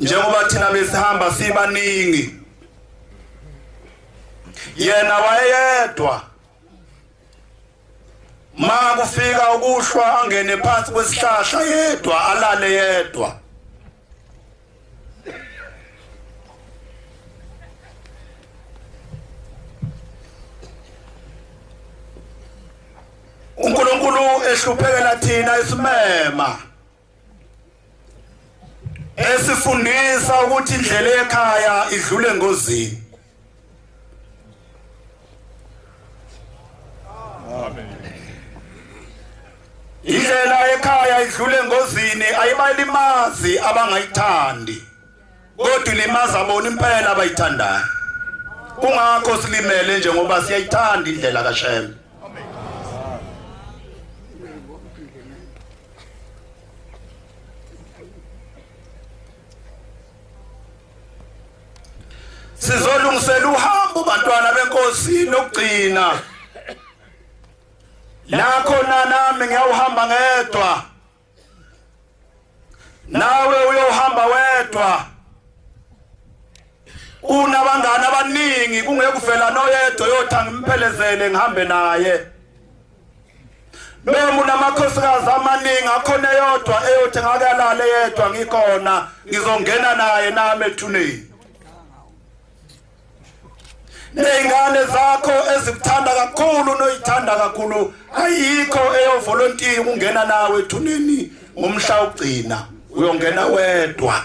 njengoba thina besihamba sibaningi yena wayedwa ma kufika ukuhlwa angene phansi kwesihlahla yedwa alale yedwa uNkulunkulu ehluphekela thina isimema esifundisa ukuthi indlela ekhaya idlule engozini indlela ekhaya idlule engozini ayibalimazi abangayithandi kodwa ilimaza bona impela abayithandayo kungakho silimele nje ngoba siyayithanda indlela kaShembe sizolungisela uhambo bantwana benkosi lokugcina la khona nami ngiyawuhamba ngedwa nawe uyohamba wedwa unabangani abaningi kungekuvela noyedwa yothi angimphelezele ngihambe naye bemu namakhosikazi amaningi akhona eyodwa eyothi ngakalale yedwa ngikhona ngizongena naye nami ethuneni nezingane zakho ezikuthanda kakhulu noyithanda kakhulu ayikho eyovolontiya ukungena nawe ethuneni ngomhla ugcina uyongena wedwa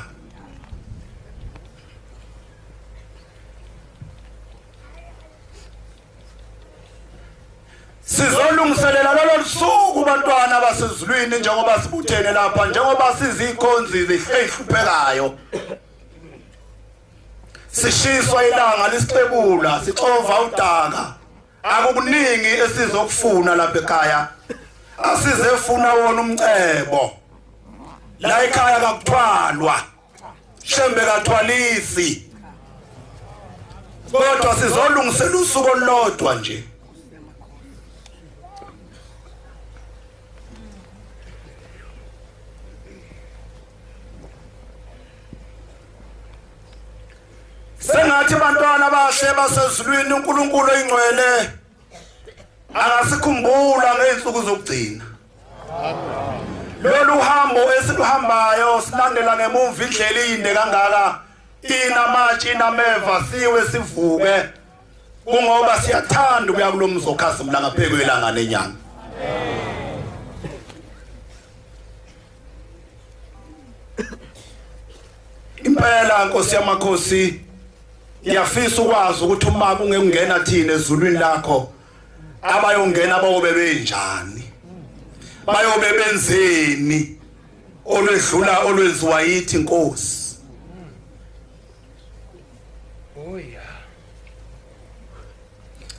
sizolungiselela lolo lusuku bantwana basezulwini njengoba sibuthene lapha njengoba sizikhonzi zihluphekayo sishiswa ilanga lisixebula sixova udaka akukuningi esizokufuna lapha ekhaya asizefuna wona umcebo la ekhaya kakuthwalwa shembe kathwalisi kodwa sizolungisela usuku olulodwa nje sengathi bantwana bahle basezulwini uNkulunkulu oyingcwele angasikhumbula ngeensuku zokugcina lolu hambo esiluhambayo silandela ngemumva indlela iyinde kangaka inamatshi inameva siwe sivuke kungoba siyathanda ukuya kulo mzi okhazimula ngapheko elanga nenyanga impela nkosi yamakhosi ngiyafisa ukwazi ukuthi uma kungekungena thina ezulwini lakho abayongena bayobe benjani bayobe benzeni olwedlula olwenziwa yithi inkosi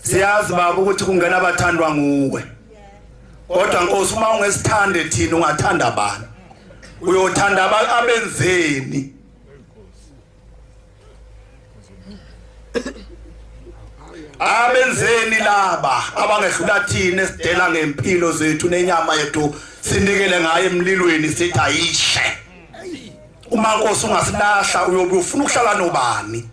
siyazi baba ukuthi kungena abathandwa nguwe kodwa nkosi uma ungesithande thina ungathanda bani uyothanda abenzeni abenzeni laba abangehlula thina esidela ngempilo zethu nenyama yethu sinikele ngayo emlilweni sithi ayishe uma nkosi ungasilahla uyobe ufuna ukuhlala nobani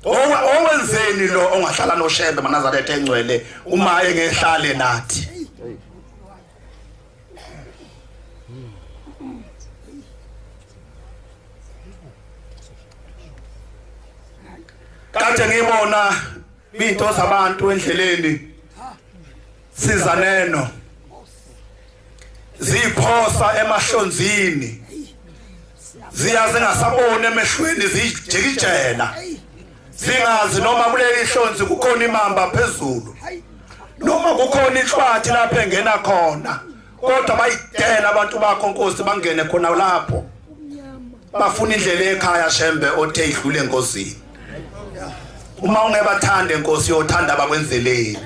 owenzeni lo ongahlala noshembe manazaretha engcwele uma engehlale nathi kade ngibona Into zabantu endleleni siza neno ziphosa emahlonzini ziya zingasaboni emehlweni zijikijela singazi noma kuleli hlonzi kukhona imamba phezulu noma kukhona inhlwathi lapho engena khona kodwa bayidela abantu bakho nkosi bangene khona lapho bafuna indlela ekhaya shembe othe idlule enkosini uma ungebathande nkosi yothanda abakwenzeleni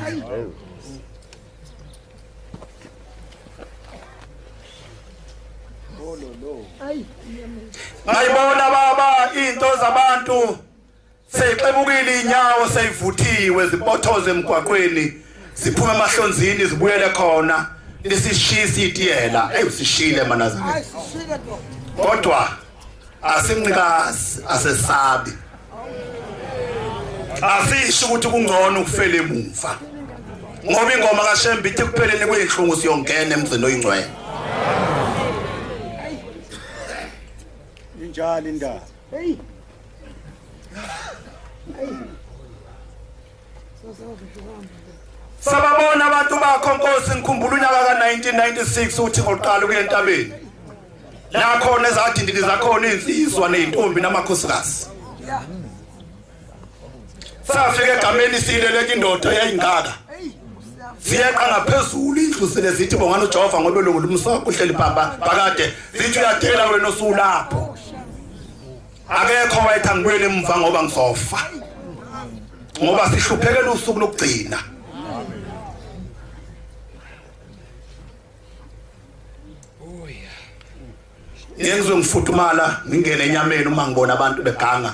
ngayibona baba into zabantu Seyixebukile inyawo seyivuthiwe zibothoze emgwaqweni ziphume emahlonzini zibuyele khona lisishiya isitiyela eyusishile manazareth kodwa asinqikazi asesabi asisho ukuthi kungcono ukufela emuva ngoba ingoma kashembe ithi kupheleni kuyinhlungu siyongena emzini oyingcwele injalo indaba sababona abantu bakho nkosi ngikhumbula unyaka ka-1996 uthi ngoqala ukuya entabeni lakhona ezadindini zakhona iy'nsizwa ney'ntombi namakhosikazi safika egameni siyileleka indoda yayingaka ziyeqa ngaphezulu indlu sele zithi bongani ujehova ngobe lungulumsoko uhleli bhamba phakade zithi uyadela wena osulapho akekho wayethi angibuyele emva ngoba ngizofa ngoba sihluphekela usuku lokugcina ngizwe ngifudumala ngingene enyameni uma ngibona abantu beganga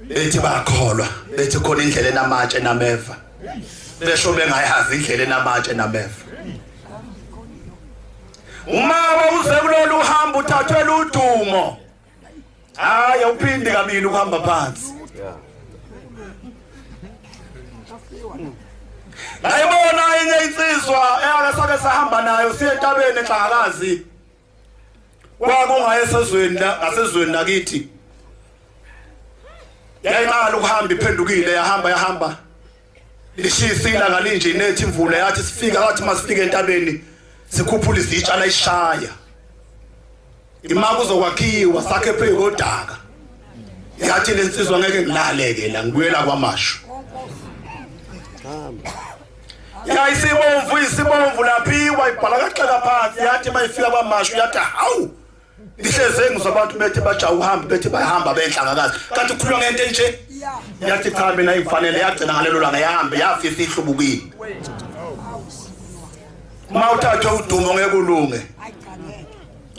bethi bakholwa bethi khona indlela enamatshe nameva besho bengayazi indlela enamatshe nameva umama uze kulolu hambo uthathwe ludumo hayi awuphindi kabili ukuhamba phansi ngayibona enye insizwa eyake sake sahamba nayo siye entabeni exhakazi kwakungaye sezweni ngasezweni nakithi yayimali ukuhamba iphendukile yahamba yahamba lishisa ilanga linje inethi imvula yathi sifika wathi masifike entabeni sikhuphula izitsha layishaya imaka uzokwakhiwa sakhe phezu kodaka yathi lensizwa ngeke ngilaleke la ngibuyela kwamashu yayisibomvu isibomvu laphiwa ibhala kaxeka phansi yathi mayifika kwamashu yathi hawu Ihleze ngizwa abantu bethi baja uhamba bethi bayahamba benhlangakazi kanti ukhuluma ngento enje yathi cha mina ingifanele yagcina ngalelo langa yahambe yafisa ihlubukile uma uthathwe udumo ngeke ulunge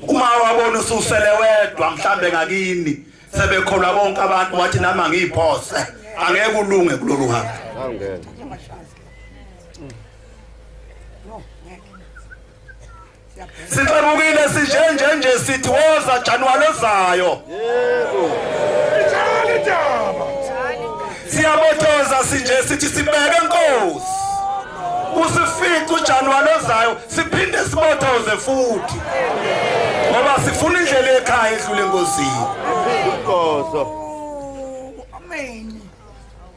uma wabona ususele wedwa mhlambe ngakini sebekholwa bonke abantu wathi nami angiyiphose angeke ulunge kulolu hamba Sixebukile sinjenje nje sithi woza January ozayo. Yebo. Ijali daba. Siyabotoza sinje sithi sibeke inkosi. Usifica uJanuary ozayo siphinde sibotoze futhi. Ngoba sifuna indlela ekhaya edlule ngozini. Inkozo.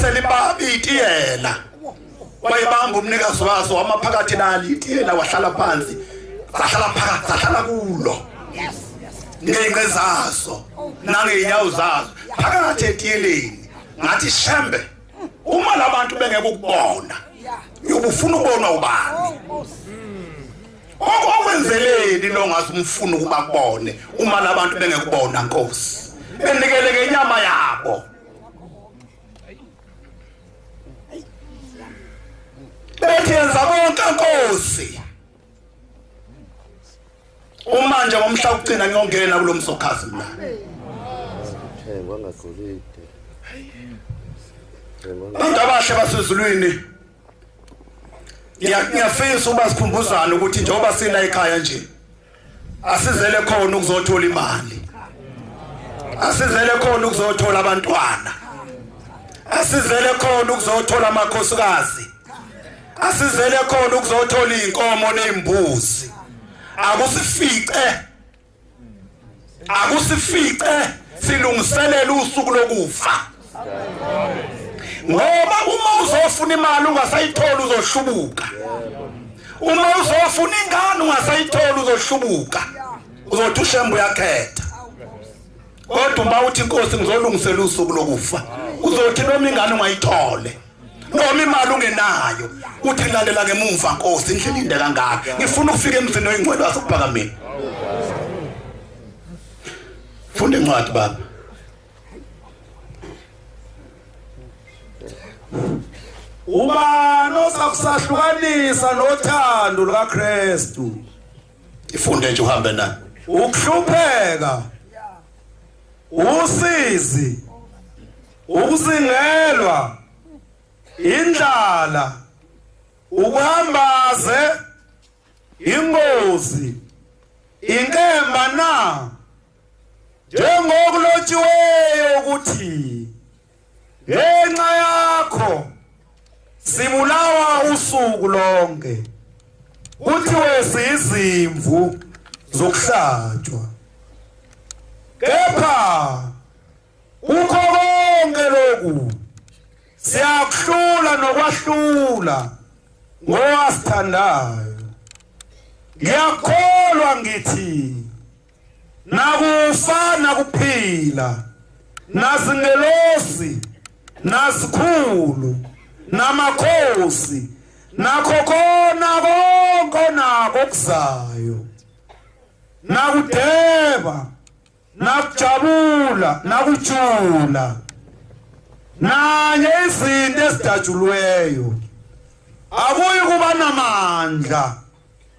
selibaba itiyela wayebamba umnikazi waso wama phakathi nalo itiyela wahlala phansi sahlala phakathi sahlala kulo ngenqe zaso nangeyinyawo zaso phakathi etiyeleni ngathi shembe uma labantu bengeke ukubona uyobufuna ukubona ubani okwenzeleni lo ngathi umfuna ukuba kubone uma labantu bengekubona nkosi benikeleke inyama yabo bethi yenza konke nkosi uma nje ngomhla ukugcina ngiyongena kulo msokhazi mina thengwa ngagolide abantu abahle basezulwini ngiyafisa uba sikhumbuzane ukuthi njengoba sila ekhaya nje asizele khona ukuzothola imali asizele khona ukuzothola abantwana asizele khona ukuzothola amakhosikazi asizele khona ukuzothola izinkomo nezimbuzi akusifice akusifice silungiselela usuku lokufa ngoba uma uzofuna imali ungasayithola uzohlubuka uma uzofuna ingane ungasayithola uzohlubuka uzothi ushembe uyakhetha kodwa uma uthi inkosi ngizolungisela usuku lokufa uzothi noma ingane ungayithole noma imali ungenayo uthi lalela ngemuva nkosi indlela inde kangaka ngifuna ukufika emzini oyingcwele wasokuphakameni funda incwadi baba ubani osakusahlukanisa nothando lukaKristu ifunde nje uhambe naye ukuhlupheka usizi ukusingelwa indlala ukuhambaze ingozi inkemba na njengokulotshiweyo ukuthi ngenxa yakho sibulawa usuku lonke kuthiwe sizimvu zokuhlatshwa kepha Kukho konke lokhu siyakuhlula nokwahlula ngowasithandayo ngiyakholwa ngithi nakufa nakuphila nazingelosi nazikhulu namakhosi nakho kona konke onako okuzayo nakudeba nakujabula nakujula nanye izinto ezidatshulweyo akuyi kuba namandla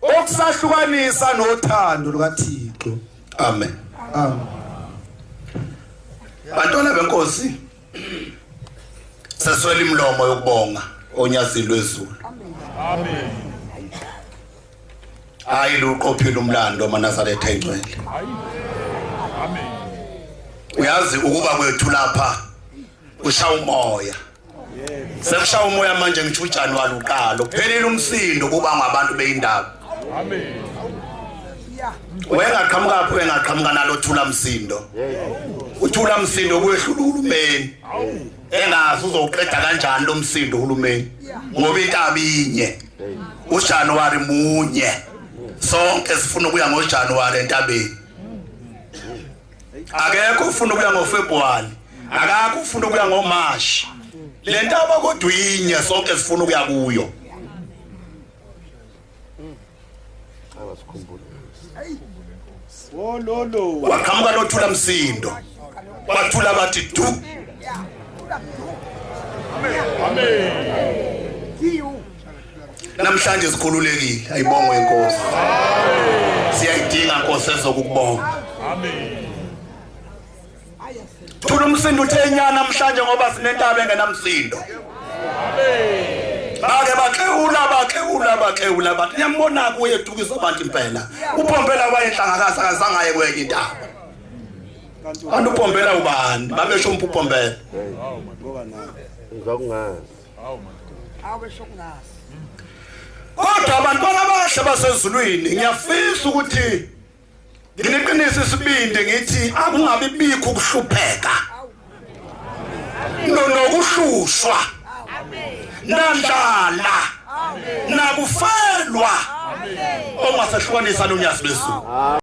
okusahlukanisa nothando lukaThixo amen amen bantwana benkosi seswela imlomo yokubonga onyazini lwezulu amen hayi luqophile umlando manazaretha ingcwele uyazi ukuba kwethu lapha usha umoya sekusha umoya manje ngisho ujanuwari uqala uphelile umsindo kuba ngabantu beyindaba wengaqhamukaphi wengaqhamuka nalo thula msindo uthula msindo kuyehlula uhulumeni engazi uzowuqeda kanjani lo msindo uhulumeni ngoba intaba inye ujanuwari munye sonke sifuna ukuya ngojanuwari entabeni akekho ufuna ukuya ngofebruwari akakho ufuna ukuya ngomashi le ntaba kodwa inye sonke sifuna ukuya kuyo waqhamuka lothula msindo wathula bathi du namhlanje sikhululekile ayibongwe inkosi siyayidinga nkosi ezokukubonga amen thula umsindo uthe inyana namhlanje ngoba sinentaba engenamsindo bake bakhewula bakhewula bakhewula bathi niyambona kuye edukisa abantu impela upompela wayenhlangakazi akazange aye kwenye intaba kanti upompela ubani babesho umpupompela ngizokungazi awubesho kungazi kodwa abantwana abahle basezulwini ngiyafisa ukuthi ngineqiniso isibindi ngithi akungabi bikho ukuhlupheka nokuhlushwa nandlala nakufelwa ongasehlukanisa nonyazi bezulu